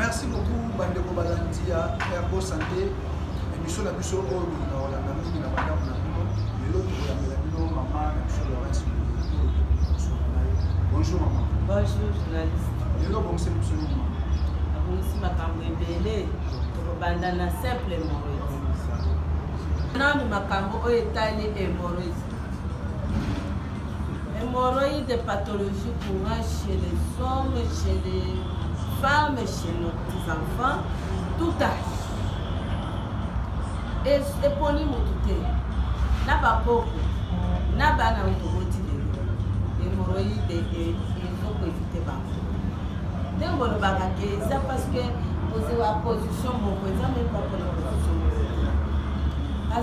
merci beaucoup bandeko balandi ya ergo santé émission na biso oyo bolinga kolanda mingi na bandako na bino lelo tokolandela bino mama na biso lawrence bonjour mama bonjour journaliste lelo obongiseli biso nini mama abongisi makambo ebele tokobanda na simple hémorroïde nanu makambo oyo etali hémorroïde Hemorroïde pathologie courant chez les hommes, chez les femmes, chez nos petits-enfants, tout âge. eponi motu te na bakoko na bana oyo toboti lelo hemorroïde ezokoevite bango ndenge olobaka ke eza parce que ozwa position moko eza meme pas pona position moko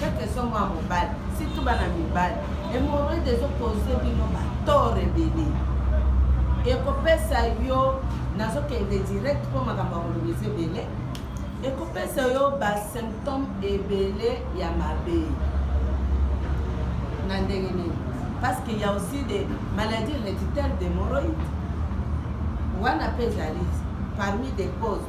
kaka ezongo ya mobali surtout bana mibali hemorroide ezokoze bino batore ebele ekopesa yo nazokende direct mpo makambo ya koloba eza ebele ekopesa yo basymptome ebele ya mabe na ndenge nini parce qu'il y a aussi des maladies héréditaires d'hémorroïdes wana mpe ezali parmi des causes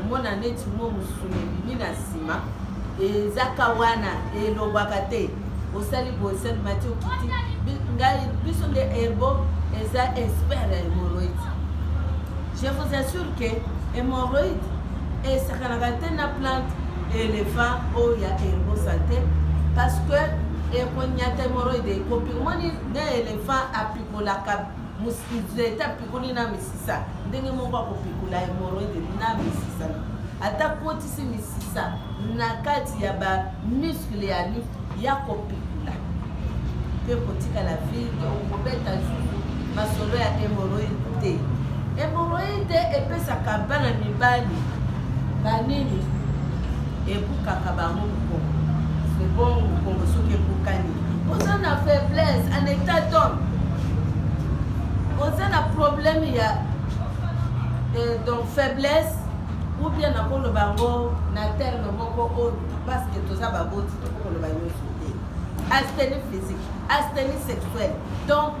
omona neti mo mosuni ebimi na nsima ezaka wana elobaka te osali bosali mati okiti ngai biso nde herbo eza expert ya hemoroïde je vous assure que hemoroïde esakanaka te na plante éléphant oyo ya herbo santé parce que ekonyata hemoroïde ekopi omoni nde éléphant apikolaka nzete apikoli na misisa ndenge moko akopikola hemoroide na misisa ata kotisi misisa na kati ya bamuskle ya nu ya kopikola mpe kotikala vide okobeta zuzu masolo ya hemoroide te hemoroide epesaka bana mibali banini Ebukaka bango mukongo. C'est bon mukongo soki ebukani. Oza na faiblesse en état d'homme. Oza na problème ya euh, donc faiblesse ou bien nakoloba yango na terme moko oyo parce que toza baboti tokokoloba nyonso te. Astenie physique, astenie sexuelle. Donc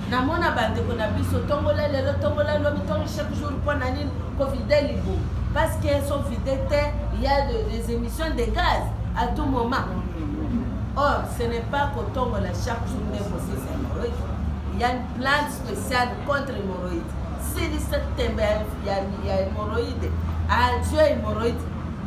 Na mona ba ndeko na biso tombola lelo tombola lobi tongi chaque jour po na nini ko vide libo parce que so vide te il y a de, des émissions de gaz à tout moment. Or ce n'est pas ko tongola chaque jour nde ko sisa hémorroïde. Il y a une plante spéciale contre hémorroïde. Silisa tembe ya ya hémorroïde. Adieu hémorroïde.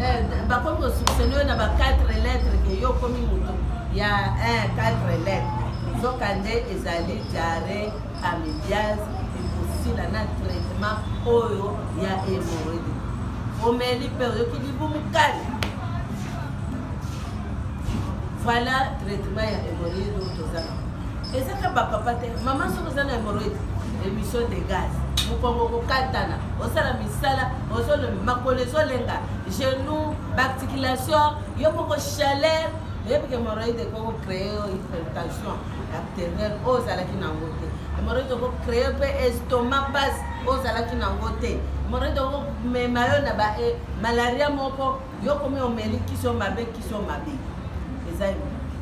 Eh, bakomi kosuksene yo na ba 4 lettre ke yo okomi moto ya 1 4 lettre nzoka nde ezali diare amibiase ekosila na traitement oyo ya emoredi omeli mpe oyoki libumu kali voilà traitement ya emoredi oyo toza na ezaka ba papa te mama soki oza na hemorroïde émission de gaz mokongo kokatana osala misala ozolobi makolo ezolenga genou baarticulation yo moko chaleur oyebi ke hemorroïde ekoko créer yo hypertension artérielle oyo ozalaki nango te hemorroïde oko créer mpe estomac base oyo ozalaki nango te hemorroïde oko mema yo na ba eh, malaria moko yo komi omeli kisi yo mabe kisi yo mabe eza immunite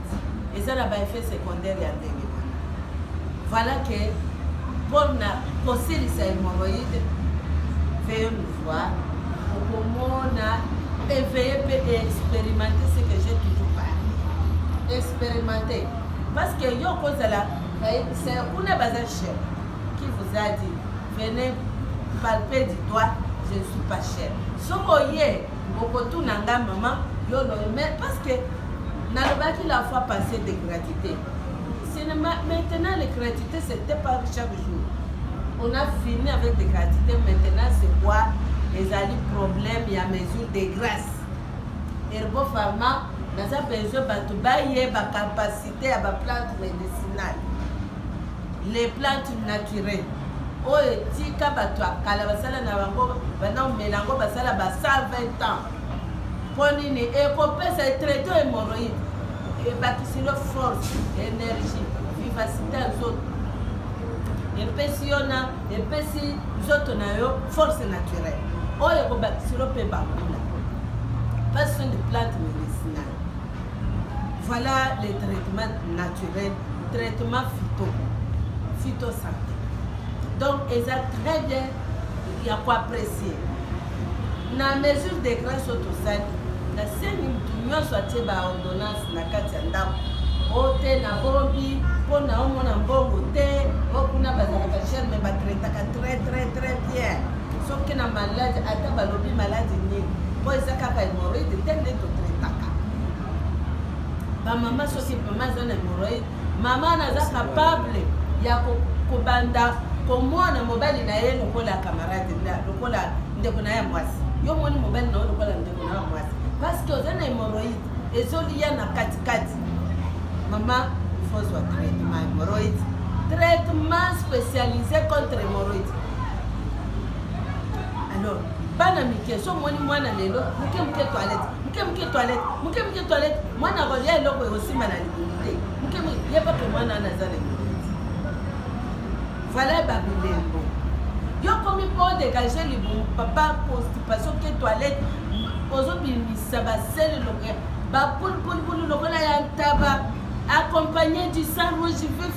eza na baeffet secondaire ya ndenge wana voilà ke mpona kosilisa hemoroïde veye nous voir okomona éveille mpe expérimente ce que j'ai toujours parlé expérimente parce que yo okozala bayebisa kuna baza chef qui vous a dit venez palper du doigt je ne suis pas cher soki oye okotuna nga mama yo loye mais parce que nalobaki la fois passé de gratité maintenant les gratuité c'était pas chaque jour on a fini avec des gratuité maintenant c'est quoi ezali problème ya mesure de grâce herbo pharma naza besoin bato bayeba capacité ya baplante médicinale les plantes naturelles oyo etika bato ya kala basala na bango banda komela yango basala ba 120 ans mpo nini ekopesa etraite hemoroïde ebakisi yo force énergie vivacité ya nzoto epesi yo na epesi nzoto na yo force naturelle oyo ekobakisi yo mpe bakula passion de plante Voilà les traitements naturels, traitement phyto, phytosanté. Donc, ils ont très bien, il y a quoi apprécier. Na mesure de grâce au Tosani, na sengi mutu nyonso atie ba ordonnance na kati ya ndako o te na bombi mpo na omona mbongo te o kuna bazalaka chere me batretaka très très très bien soki na malade ata balobi malade nini mpo eza kaka hemorroide te nde totretaka bamama soki mama aza na hemorroide mama naza capable ya kobanda komona mobali na ye lokola camarade lokola ndeko na ye ya mwasi yo omoni mobali na yo lokola ndeko na yo ya mwasi parce que oza na hemorroide ezoliya na katikati mama ifozwa traitement hemorroide traitement spécialisé contre hemorroide alors bana mike so omoni mwana lelo moke moke toilette moke moke toilette moke moke toilette mwana akolia eloko ekosimba na libumu te moke moke yebake mwana wana aza na libumu vala babilembo yo komi mpo dégage libumu papa constipation ke toilette ozobimisa basele lokola bapulupulupulu lokola ya ntaba accompagné du sang rouge vif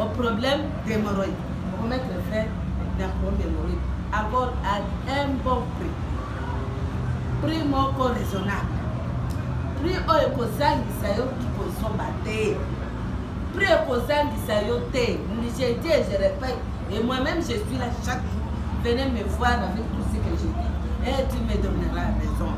Au problème d'hémorroïde, on met le frère d'un problème d'hémorroïde. Encore à un bon prix. Prix moko raisonnable. Prix oyo ekozangisa yo kikozoba te. Prix ekozangisa yo te. Je dis et je répète. Et moi-même, je suis là chaque jour. Venez me voir avec tout ce que je dis. Et eh, tu me donneras raison.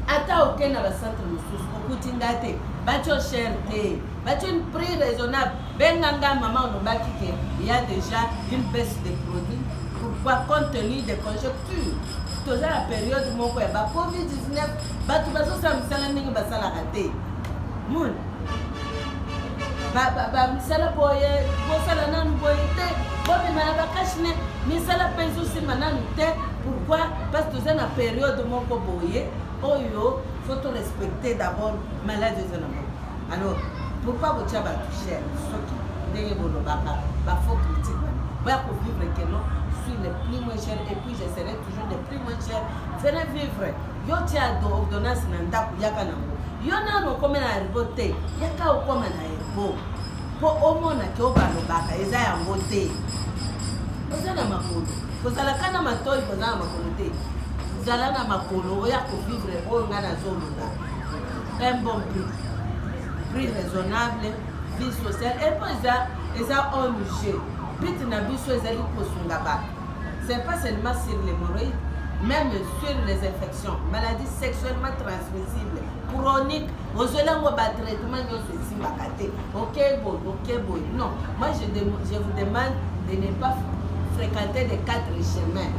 Ata okenda na centre mosusu okuti nga te batyo sher te But une prix raisonnable. Benganga maman olobaki que il y a déjà une baisse des produits. Pourquoi compte tenu des conjonctures toza na période moko ya ba covid 19 bato bazosala misala ndenge basalaka te mon bamisala boye bosala nanu boye te bomema na bakashine misala mpe ezosimba nanu te pourquoi parce toza na période moko boye oyo faut to respecter d'abord malade eza na moko Alors, pourquoi botia ba toucher soki ndenge bolobaka ba faux critique wana boya ko vivre que non suis le plus moins cher et puis je serai toujours le plus moins cher venez vivre yo tia ordonnance na ndako yaka nango yo nano okoma na herbo te yaka okoma na herbo mpo omona ke oyo balobaka eza yango te oza na makolo kozalaka na matoi koza na makolo te zala na makolo oya kovivre oyo ngai nazoloba un bon prix prix raisonnable vie sociale epo eza eza ong but na biso ezali kosunga bato c'est pas seulement sur les moroïdes même sur les infections maladie sexuellement transmissible chronique ozwelango batraitement nyonso esimbaka Ok boy, ok boy. Non, moi je, de, je vous demande de ne pas fréquenter les quatre chemins.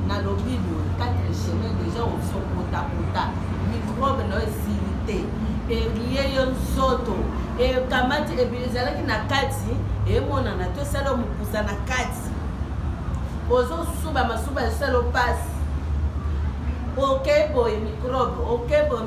Na lobi boy, quatre chemins déjà on se kota kota. Microbe na esilite. Elie yo nzoto. E kamati ezalaki na kati, emonana to sala mukuza na kati. Ozo suba masuba sala passe. Ok boy, microbe, ok boy.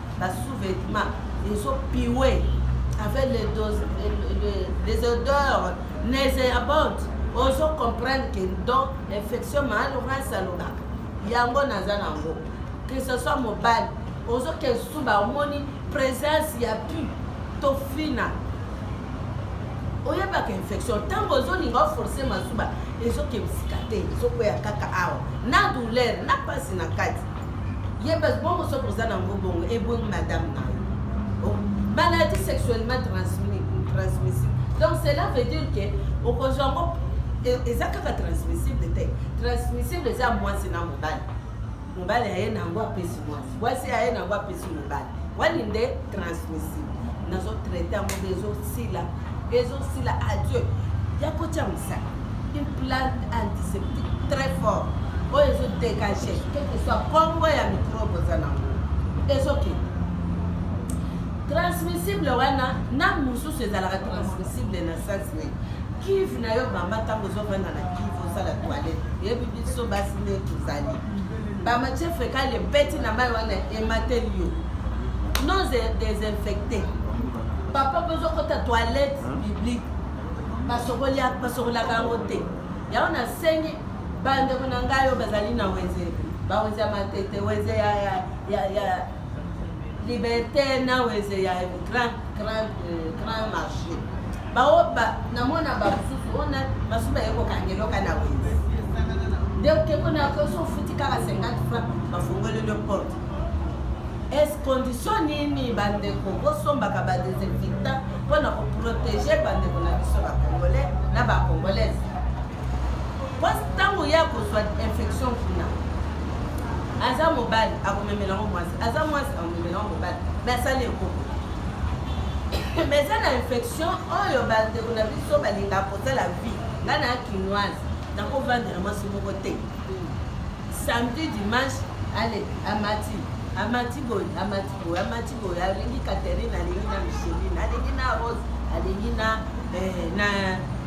ba sous-vêtements ezo piwe avec les, doses, les, les odeurs nauséabondes ozo comprendre que donc infection mahali okanisi alobaka yango naza nango que ce soit mobali ozoke suba omoni présence ya pu tofina oyebaka infection ntango ozolinga oforce masuba ezokebisika te ezokwea kaka awa na douleur na mpasi na kati ye bas bongo soki oza nango bongo ebongi madame na yo maladie sexuellement transmissible donc cela veut dire ke okozwa yango eza kaka transmissible te transmissible eza mwasi na mobali mobali aye nango apesi mwasi mwasi aye nango apesi mobali wani nde transmissible nazo traite yango nde ezosila ezosila adieu ya kotya mosaka une plante antiseptique très fort oyo ezo dégage quelque soit kombo ya microbe oza nango ezokende transmissible wana na mosusu ezalaka transmissible na sasi nini kive na yo mama ntango ozovanda na kive osala toilette yebi biso basi nde tozali Ba matière fécale ebeti na mai wana emateli yo. Non désinfecté. Papa bozo kota toilette publique. Basokoli basokolaka yango te. Yango nasengi bandeko na ngai oyo bazali na wenze bawenze ya matete wenze ya, ya, ya, ya Liberté na weze ya grand grand euh, grand marché. Bawo ba namona ba susu ona basuba yeko kangeloka na weze. Donc keko na ko so futi kaka 50 francs bafungoli le porte. Est-ce condition nini bandeko bosombaka ba desinfectant mpo na koprotege bandeko na biso ba congolais na ba congolaise mwasi ntango ye akozwa infection kuna aza mobali akomemela yango mwasi aza mwasi akomemela yango mobali me asali ekoko me eza na infection oyo bandeko na biso balinga kosala vie ngai na kinoise nakovandela mwasi moko te samedi dimanche ale amati amati boye amati boye amati oyo alingi Catherine alingi na Micheline alingi na Rose alingi na eh, na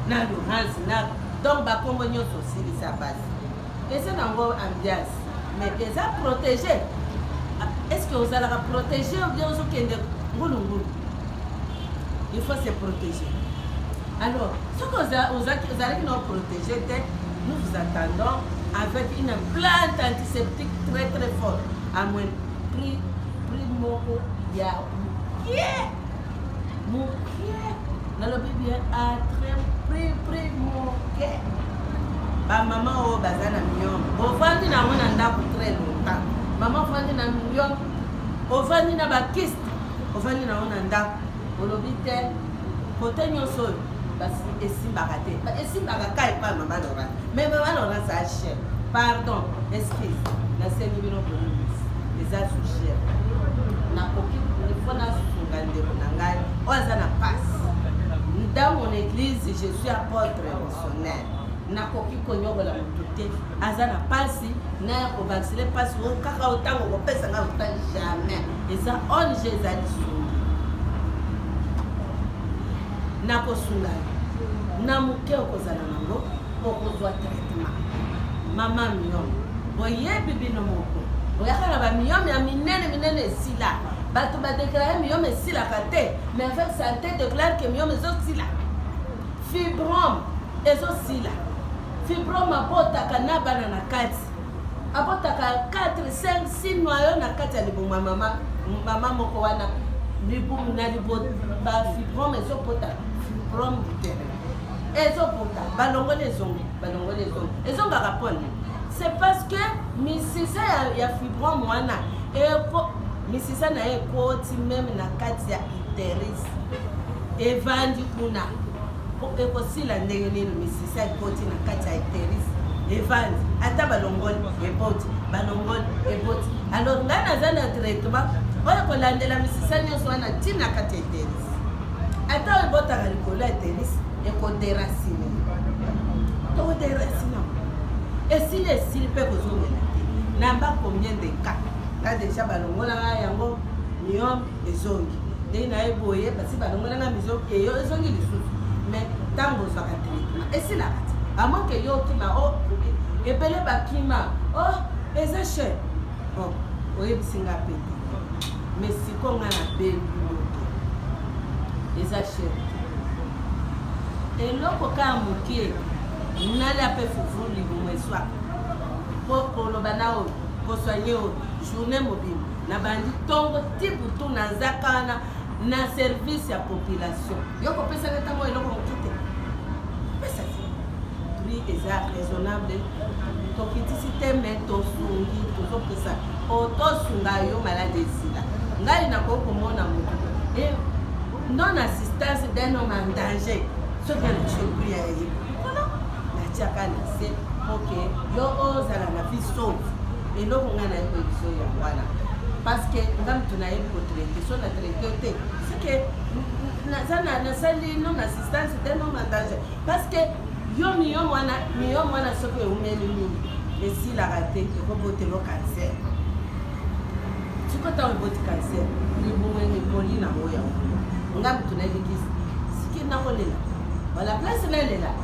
na Laurence na donc bakombo nyonso osilisa basi eza nango ambiance mais eza protégé ah, est ce que ozalaka protégé obien ozokende ngulungulu il faut se protéger alors soki ozalaki na protégé te nous vous attendons avec une plante antiseptique très très forte à moins prix prix moko ya mukie mukie nalobi bien atre prix prix moke bamama oyo baza na mion bovandi na yango na ndako très longtemps mama ofandi na mion ofandi na bakiste ofandi na yango na ndako olobi te Kote nyonso oyo basi esimbaka te. Esimbaka ka epai mama Laurence. Mais mama Laurence a chef. Pardon, excuse. Nasengi bino boyebisi. Eza sous chef. Nakoki faut nasunga ndeko na ngai oyo aza na pasi dans mon église je suis apôtre missionnaire nakoki konyokola moto te aza na pasi naya kovaksine pasi o kaka o ntango okopesa ngai ota jamais eza ong eza lisumu nakosunga yo na moke okozala nango okozwa traitement mama miome boyebi bino moko boyaka na bamiome ya minene minene esila bato badeklare miome esilaka te mais avec sante deklare ke miome ezosila fibrome ezosila Fibrome abotaka na bana na kati. Abotaka 4, 5, 6 noyau na kati ya libumu ya mama, mama moko wana libumu na liboto ba fibrome ezobota fibrome uterine ezobota balongoli ezongi balongoli ezongi ezongaka mpo nini c'est parce que misisa ya, ya fibrome wana eko misisa na ye ekoti meme na kati ya uteris evandi kuna Po ekosila ndenge nini misisa ekoti na kati ya ecteris evandi ata balongoli eboti balongoli eboti alors ngai naza na traitement oyo kolandela misisa nyonso wana ntina kati ya ecteris ata oyo ebotaka likolo ya ecteris ekoderasine toderasine esili esili mpe kozongela te namba combien de cas nga deja balongolaka yango miome ezongi ndenge na ye boye basi balongwela na mizo eyo ezongi lisusu mais ntango ozwaka traitement esilaka ti amoke yo okima o oh, ebele bakima o oh, eza cher bon oyebisi nga mpe te mais siko nga na bebi moto eza cher eloko kaka moke nalia mpe fufu libumu eswaka mpo koloba na oyo koswanye oyo journée mobimba Na bandi tongo ti butu na nzakana na service ya population. Yo ko pesa nga tango eloko moke te. Pesa ti. Prix eza raisonnable. Tokitisi te mais tosungi tozopesa po tosunga yo malade esila. Ngai nakoki komona moto et non assistance d'un homme en danger soki alakisi yo prix ya ye. natiaka na se po ke yo ozala na vie sauve eloko ngai nayebi koyebiso ya wana parce que nga moto nayebi kotraite so na traite te seke naza nasali non assistance te non mandaje parce que yo miyo mwana miyo mwana soki eumeli mingi esilaka te ekobotelo cancer siko ntango eboti cancer libumu ekoli nango yango nga moto nayebi kisi siki nakolela wala place nalela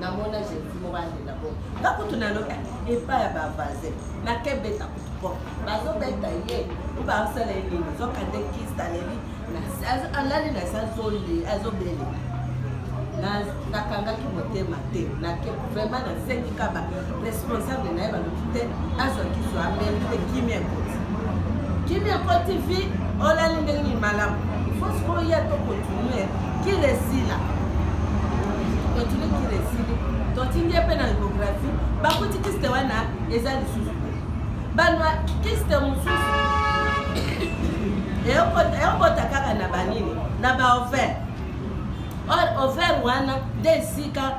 na mona jesus moko alela bo nga kutu nalobi epa ya bavaze nakebeta kutu po bazobeta ye oba asala ye nini zokande kista leli alali na se azole azobelela nakangaki motema te nake vraiment nasengi kaba responsable na ye balobi te azwa kiso ameli mpe kimia ekoti kimia ekoti vi olali ndenge nini malamu ifo sikoyo ya tokontinue kila esila continue kila esili totindi ye mpe na ecografi bakuti kiste wana eza lisusu te banwa kiste mosusu eokota kaka na banini na baover or over wana nde esika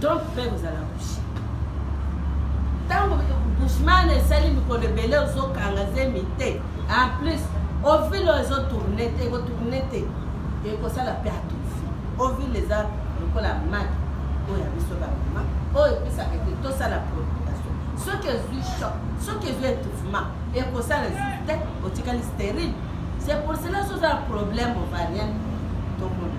Donc frère ozala bouche. Tango Bushman esali mikolo ebele ozokanga zemi te. En plus, ovile oyo ezo tourne te, eko tourne te. Ekosala pe atufi. Ovile eza lokola maki oyo ya biso ba mama oyo epesaka ete tosala provocation. Soki ezwi choc, soki ezwi étouffement, ekosala lisusu te, otikali stérile. C'est pour cela soki oza na problème ovarienne, tomona.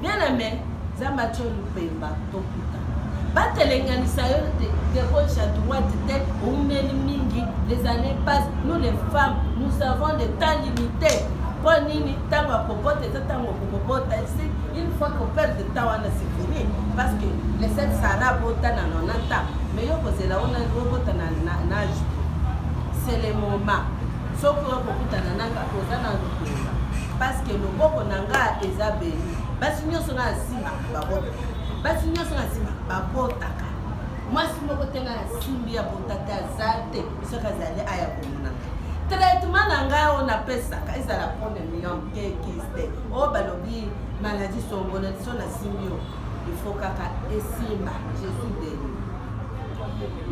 Bien aimé, Nzambe atyo lupemba tokuta. Batelenganisa yo de, de gauche à droite te, oumeli mingi, les années passent, nous les femmes, nous avons le temps limité. Mpo nini ntango ya kobota eza ntango okobota esi une fois ko perdre temps wana c'est fini parce que le set sara bota na 90 ans mais yo kozela ona obota na, na, na age c'est le moment Soki oye kokutana na nga oza na lokola paske loboko na nga eza beni basi nyonso na asimbaka babotaka basi nyonso na asimbaka babotaka mwasi moko te nga nasimbi ya botata aza te soki azali aya komona nga traitement na ngai oyo napesaka ezala premium kekiste oyo balobi maladi songono liso nasimbi yo ifo kaka esimba jesus deni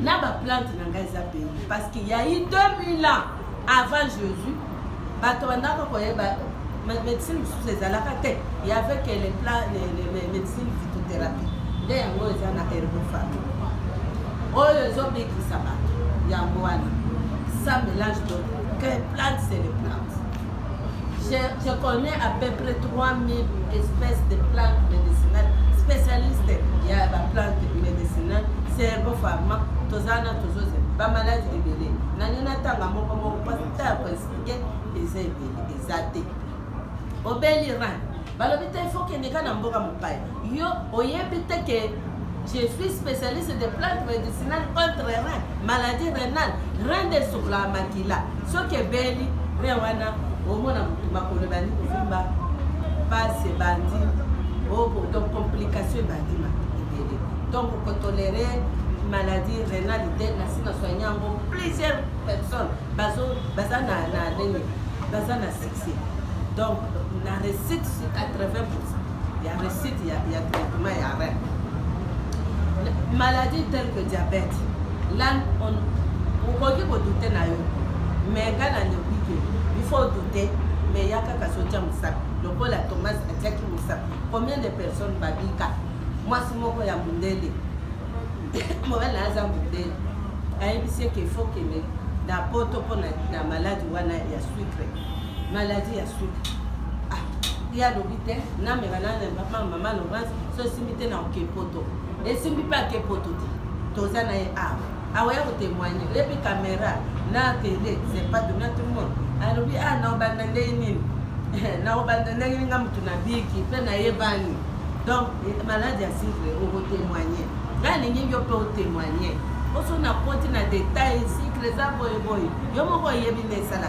na ba plante na ngai eza pei parce que ya i 2000 ans avant jésus bato bandaka koyeba médecine mosusu ezalaka te yavec médecine phytothérapie nde yango eza na herbofami oyo ezobikisa bato yango wana ça mélange donc que plante c'est le plante Je, je connais à peu près 3000 espèces de plantes médicinales, spécialistes. Il y a des plantes médicinales, cerveau pharma, tozana toujours ba malade ebele. Nani na tanga moko moko parce que ta ko expliquer eza ebele, eza te. Obeli ran. Balobi te il faut kende ka na mboka mopaya. Yo oyebi te que je suis spécialiste de plantes médicinales contre rein, maladie rénale, rein de souffla makila. Soki ebeli rein wana omona motu makolo ebandi kovimba, pasi ebandi, oh, donc complication ebandi ebele. Donc kotolere maladie rénale te nasi na soigne yango plusieurs personnes bazo baza na na nini baza na succès donc na réussite sur 80 ya recette ya, ya traitement ya rein maladie telle que diabète là on okoki kodute na yo mais ngai nalobi ke il faut odute mais ya kaka sotia mosapi lokola thomas atiaki mosapi combien de personnes babika mwasi moko ya mondele mobali na aza mondele ayebisi eke faut kende na poto mpo na maladi wana ya sucre maladie ya suka ah, ye alobi te namela na mama laurence so esimbi te na okepoto esimbi mpe akepoto te toza na ye awa awa ya kotemoigne ye mpe kamera na tele sepatu na tout le monde alobi a ah, na obanda ndenge nini na obanda ndenge nini nga motu na biki mpe nayebani donc maladi ya sikle okotemoigne nga alingi yo mpe otemoigne oso nakoti na detail sikle eza boyeboye yo moko oyebi na esala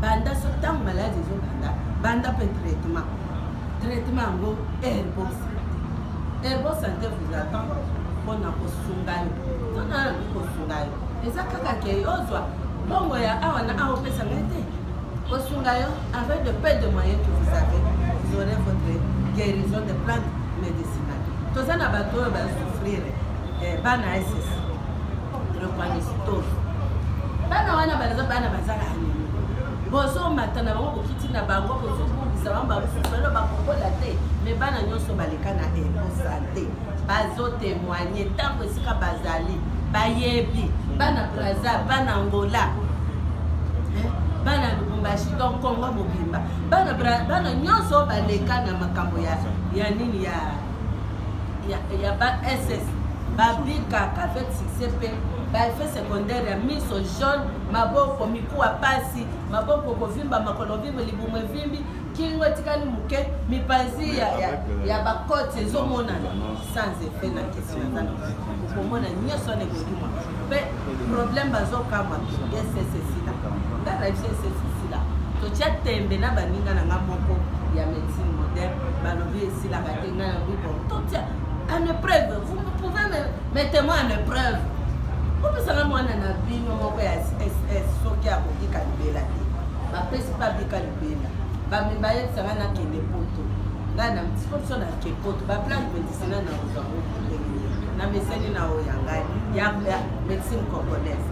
banda so ntango maladi ezobanda banda mpe traitement traitement yango airbon santé airbon santé vous attend mpona kosunga yo mpona nakoki kosunga yo eza kaka ke ozwa mbongo ya awa na awa opesa ngai te kosunga yo avec de peu de moyen que vous avez vous aurez votre guérison de plante médicinale toza na bato oyo basouffrire eh, bana ss bana wana banaza bana bazaka anini bozomata na bango bokiti na bango bozobungisa bango bamusolo bakokola te me bana nyonso baleka na ekosante bazotemoigne ntango esika bazali bayebi bana braza bana angola bana lubumbashi to congo mobimba bana nyonso baleka na makambo ya nini ya ya, ya ba ss babikaka avec succès mpe baeffet secondaire ya miso jaune maboko mikuwa pasi maboko kovimba makolo vimbo libumu evimbi kingo etikali moke mipanzi ya, ya, ya bakote ezomonana sans effet na kisi naza okomona nyonso wana ekokima mpe problème bazokamwa esesesila nga na biso esesesila totya tembe na baninga na nga moko ya médecine moderne balobi esilaka te ngai na bibo totia en épreuve vous pouvez me mettre moi en épreuve opesaka mwana na bino moko ya ss soki akoki kalibela te bapesi mpe abika libela bamemba yebisanga nakende poto ngai na mtikonso na ke poto baplan medicina na ozango na meseni na oyo ya ngai ya medicine congolaise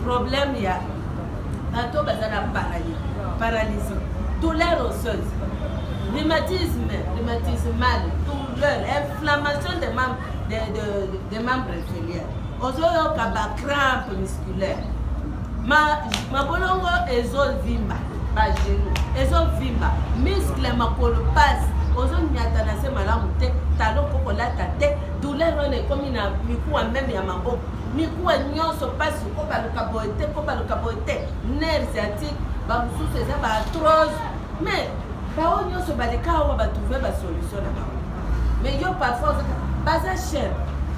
problème ya bato baza na paralysie douleur osseuse rhumatisme rhumatismal douleur inflammation de membre de, de, de membre inférieur ozoyoka bacrampe musculaire mabolongo ma ezovimba bagenu ezovimba miskle makolo pasi ozonyata na se malamu te talo mpo kolata te douleur wana ekomi na mikuwa meme ya maboko mikuwa nyonso mpasi kobaluka boye te kobaluka boye te nerf sciatique bamosusu eza ba atrose mais baoyo nyonso baleka awa batrouve basolution na bango mais yo parfois ozaka baza cher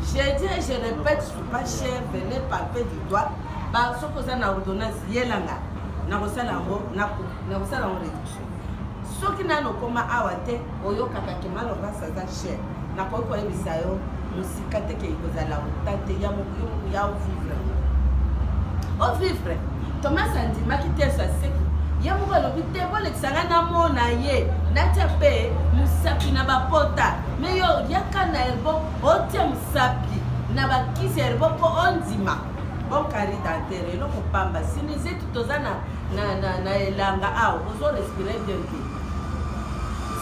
je dis et je répète suis pas cher venez palper du doigt soki oza na ordonnance yelanga nakosala yango nakosala yango réduction soki nano okoma awa te oyokaka ke malorasi aza cher nakoki koyebisa yo mosika te ke ekozala ota te ya ovivre ovivre thomas andimaki te so aseki ye moko alobi te bolekisa ngai namona ye natya mpe mosapi na bapota me yo yaka na elbo otya mosapi na bakisi ya elbo mpo ondima bon kari dantere eloko pamba sinizeti toza na Na, na, na elanga awa, ozo respirer bien te.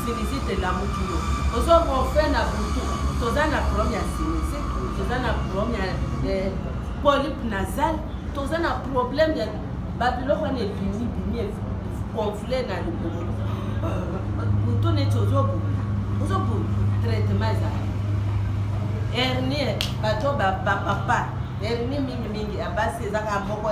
Sinusite elamuki yo. Ozo ronfler na butu. Toza na problème ya sinusite, toza na problème ya eh, polype nasal, toza na problème ya babiloko wana ebimi bimi gonfler na libumu. Butu neti ozo bunda, ozo bunda. Traitement ezali. Hernie, bato ba ba papa hernie mingi mingi ya basi ezaka moko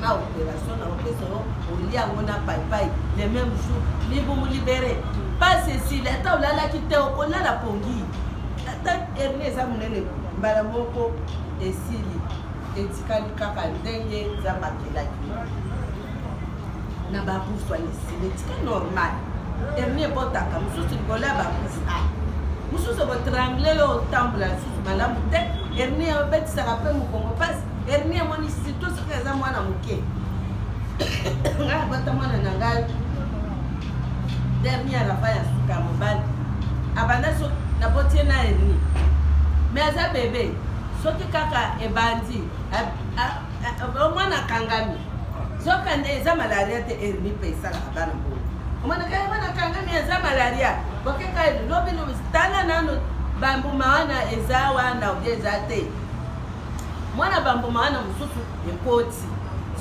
na operation na opesa yo olia yango na paipai le même jour libumu libere pas esili ata olalaki te okolala pongi ata hernie eza monene mbala moko esili etikali kaka ndenge nzambe akelaki na bakufa esili etikali normal hernie ebotaka mosusu likolo ya bakufa ah, mosusu ekotrangle yo otambola lisusu malamu te hernie obetisaka mpe mokongo mpasi Hernie amoni surtout soki aza mwana moke ngai abata mwana na ngai dernier rafa ya suka ya mobali abanda so nabotie na hernie me aza bebe soki kaka ebandi omwana akangami zoka nde eza malaria te hernie mpe esalaka bana mpo omwana kaka mwana akangami eza malaria bokeka lobi tala nano bambuma wana eza wana obie eza te mwana bambuma wana mosusu ekoti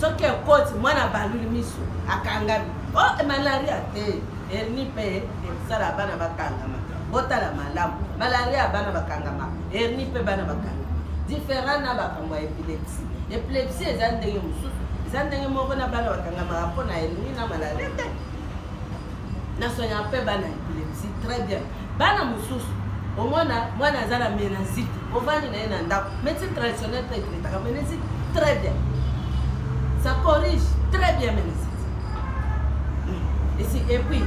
soki ekoti mwana baluli miso akangami o oh, eh, malaria te herni mpe ekosala bana bakangama botala malamu malaria bana bakangama herni mpe bana bakangama different na bakambo ya epilepsie epilepsie eza ndenge mosusu eza ndenge moko na bana bakangamaka mpo na herni na malaria te na soignaka mpe bana ya epilepsie très bien bana mosusu omona mwana aza na menazite ovandi na ye na ndako médecine traditionnelle mpe etretaka menazite très bien ça corrige très bien menazite esi et puis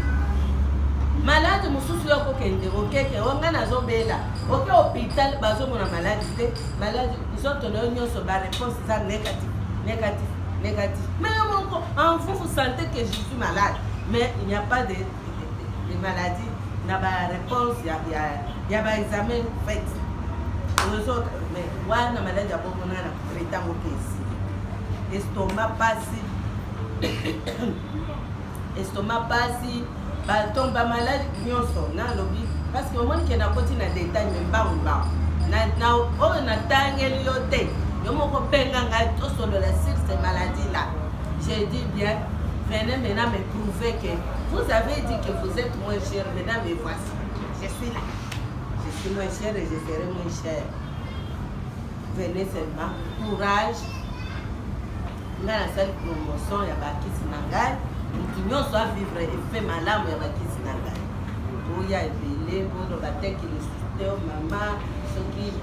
maladi mosusu yo okokende okeke o ngai nazobela oke hôpital bazomona maladi te maladi nzoto na yo nyonso baréponse eza négatif négatif négatif mais yo moko en vous vous sentez que je suis malade Mais il n'y a pas de, de, de maladie na ba réponse ya, ya, ya ba examen fait ozo mais wana maladi ya bongo na na tretango kesi estoma pasi estoma pasi baton bamaladi nyonso nalobi parce que omoni ke nakoti na detail me mbangu mbangu na oyo natangeli yo te yo moko mpenga ngai tosolola sur ce maladie là J'ai dit bien, venez maintenant me prouver que vous avez dit que vous êtes moins cher, maintenant me voici. Je suis là. Je suis moins cher et je serai moins cher. Venez seulement. Courage. nga nasali promotion ya bakisi na ngai motu nyonso avivre efe malamu ya bakisi na ngai boya ebele bono bateki lisusu te mama soki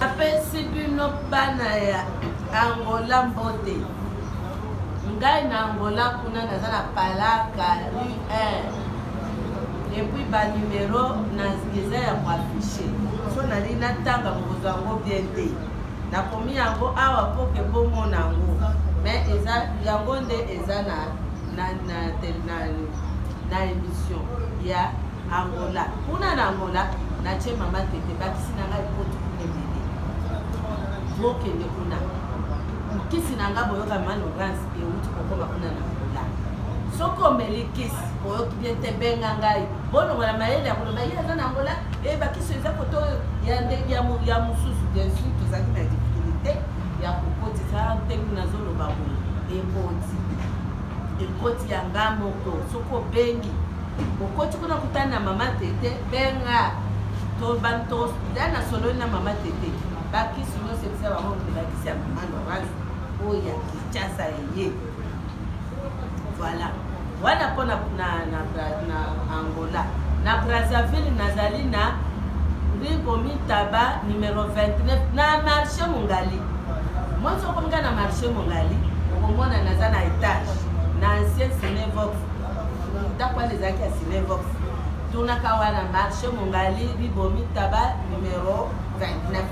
Napesi bino bana ya Angola mbote. Ngai na Angola kuna naza na Palaka rue 1. Et puis ba numero na eza ya ko afficher. So nali natanga bokozwa yango bien te. Nakomi yango awa mpo ke bomona yango. Mais eza yango nde eza na na na, na, na, na emission ya Angola kuna na Angola natie mama tete bakisi na ngai poto kuna ebele bokende kuna nkisi na ngai boyoka malorance euti kokoma kuna na Angola soki omeli kisi oyoki bien te benga ngai bolongola mayele ya koloba ye aza na Angola ebakisi eh, eza koto ya mosusu bien sur tozalaki na difficulté ya kokotisa ntenge nazoloba boye ekoti ekoti ya nga moko soki obengi okoti kuna kutani na mama tete benga tobantoda na solo na mama tete bakisi nyonso ebisa bango bakisi ya mama norage oyo ya kinshasa eye voilà wana mpo na ango Angola. Na Brazzaville nazali na rue Komitaba numero 29 na marché Mongali. Moi soko nga na marché Mongali okomona naza na etage na ancien Cinevox ndako wana ezalaki ya Cinevox tunaka wana marché Mongali rue Komitaba numero 29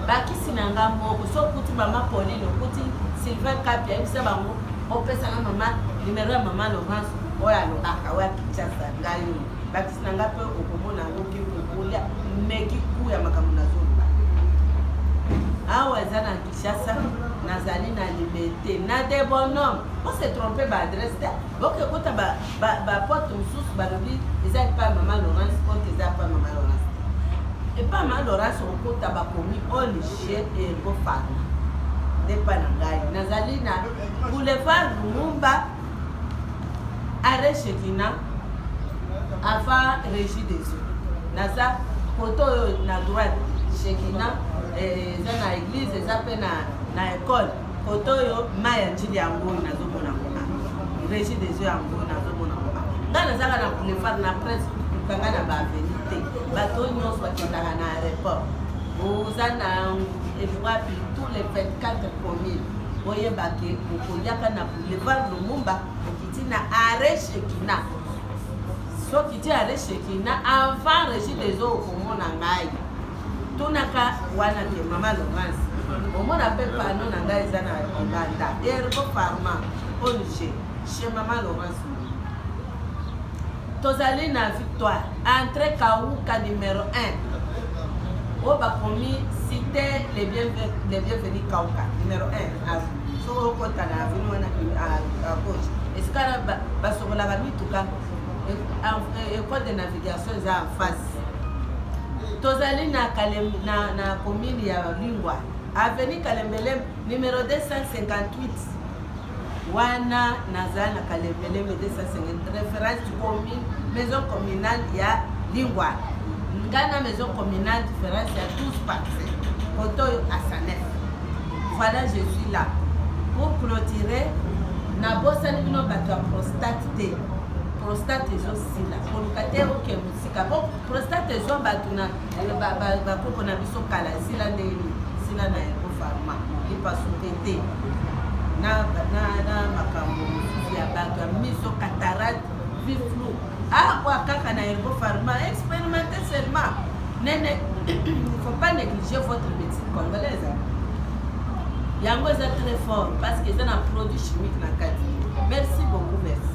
bakisi na nga moko so okuti mama Pauline okuti Sylvain Kapi ayebisa bango opesaka mama numero ya mama Laurence oyo alobaka oyo akinshasa ngai oyo bakisi na ngai mpe okomona yango ke okolia meki ku ya makambo nazoloba awa eza na kinshasa nazali na libete na de bonhomme ose trompe baadresse te boke kota bapote mosusu balobi eza epai mama laurence ote eza epai mama laurence epai mama laurence okota bakomi olige ergo farma nde epai na ngai nazali na boulevard lumumba Arrêt Shekina avant régie des eaux. Naza poto oyo na droite Shekina eh, eza na église eza pe na na école poto oyo mai ya njili yango oyo nazomona kuna régie des eaux yango oyo nazomona kuna ngai nazaka na boulevard na presse kanga na baaveni te bato oyo nyonso bakendaka na aéroport oza na ewapi tous les 24 communes oyebake okoyaka na Levar Lumumba okiti na arrêt Shekina. Soki ti arrêt Shekina avant Régis des eaux okomona ngai. Tunaka wana te mama Laurence. Omona pe pano na ngai eza na Uganda. Ergo Pharma, ONG, chez mama Laurence. Tozali na victoire. Entre Kauka numero 1. Oyo bakomi cite les bienvenus Kauka numero 1. Soki okota na avenue wana à gauche. Esika basokolaka mituka école de navigation eza en face. Tozali na na na commune ya Lingwa. Avenue Kalembelembe numero 258. wana naza na kalembelembe 250 reference commune maison communale ya lingwa nga na maison communale différence ya 12 parcelle koto oyo asanef voilà je suis là pour clôturer nabosani bino bato ya prostate te prostate ezosila koluka te oke mosika po prostate ezwa bato na bakoko na biso kala esila nde esila na yango farma epasuke te na makambo mosusu ya bato ya miso catarate vie flou akwa ah, kaka na yango farma experimente seulement nene faut pas négliger votre médecine congolaise hein. yango eza très fort parce que eza na produit chimique na kati merci beaucoup merci